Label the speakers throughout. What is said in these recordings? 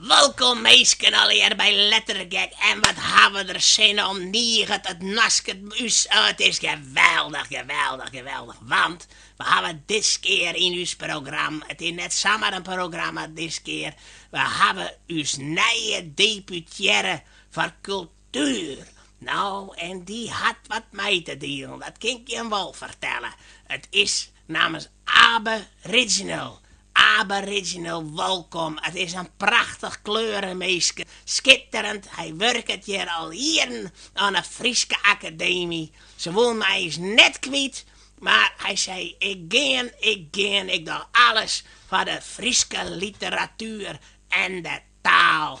Speaker 1: Welkom minsken allegear by Lettergek en wat ha we der sin oan, niget it nasket by ús oh it is geweldich geweldich geweldich want we hawwe diskear yn ús program it is net samar in programma diskear we hawwe ús nije deputearre foar kultuer no en dy hat wat mei te dielen dat kin ik jim wol fertelle it is nammers Abe Riginal Abe Riginal. Wolkom, it is in prachtich kleureminske, skitterend. Hy wurket hjir al jierren oan 'e Fryske Akademy. Se woene him eins net kwyt, mar hy sei, Ik gean, ik gean, ik doch alles foar de Fryske literatuer en de taal.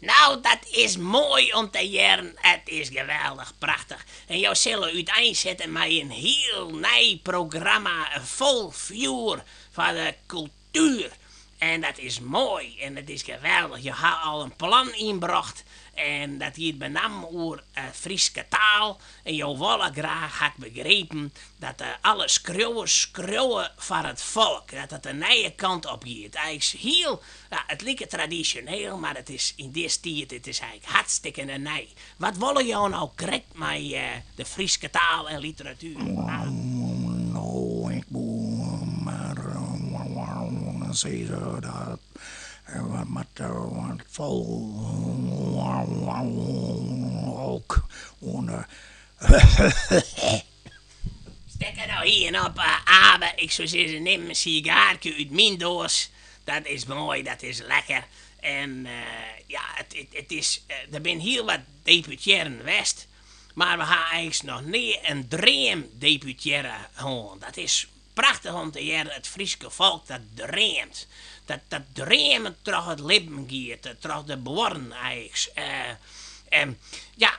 Speaker 1: No, dat is moai om te hearren. It is geweldich, prachtich. En jo sille úteinsette mei in hiel nij programma fol fjoer foar de kultuer. En dat is moai en it is geweldich. Jo ha al in plan ynbrocht en dat giet benammen oer 'e Fryske taal. En jo wolle graach, ha ik begrepen, dat alle skriuwers skriuwe foar it folk, dat it de nije kant op giet. Hy is hiel Ja, it liket tradisjoneel, mar it is yn dis tiid, it is eins hartstikkene nij. Wat wolle jo no krekt mei de Fryske taal en literatuer? No, ik woe mar sizze dat we moatte wat folk oan de. Stek der no ien op, Abe, ik soe sizzen nim in sigaarke út myn doas, dat is moai, dat is lekker en ja, it is, der binne hiel wat deputearren west, mar we ha eigentlik noch nea in dreamdeputearre hân, dat is prachtich om te hearren, it Fryske folk dat dreamt, dat dreamend troch it libben giet, troch de buorren eigentlik en ja.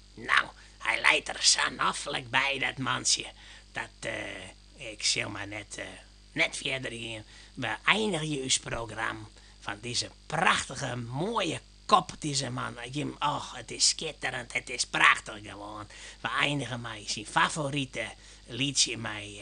Speaker 1: No, hy leit der sa noflik by, dat mantsje, dat, ik sil mar net, net fierder gean. We einigje ús program fan dizze prachtige, moaie kop, dizze man hjir, och, it is skitterend, it is prachtich gewoan. We einige mei syn favorite lietsje, mei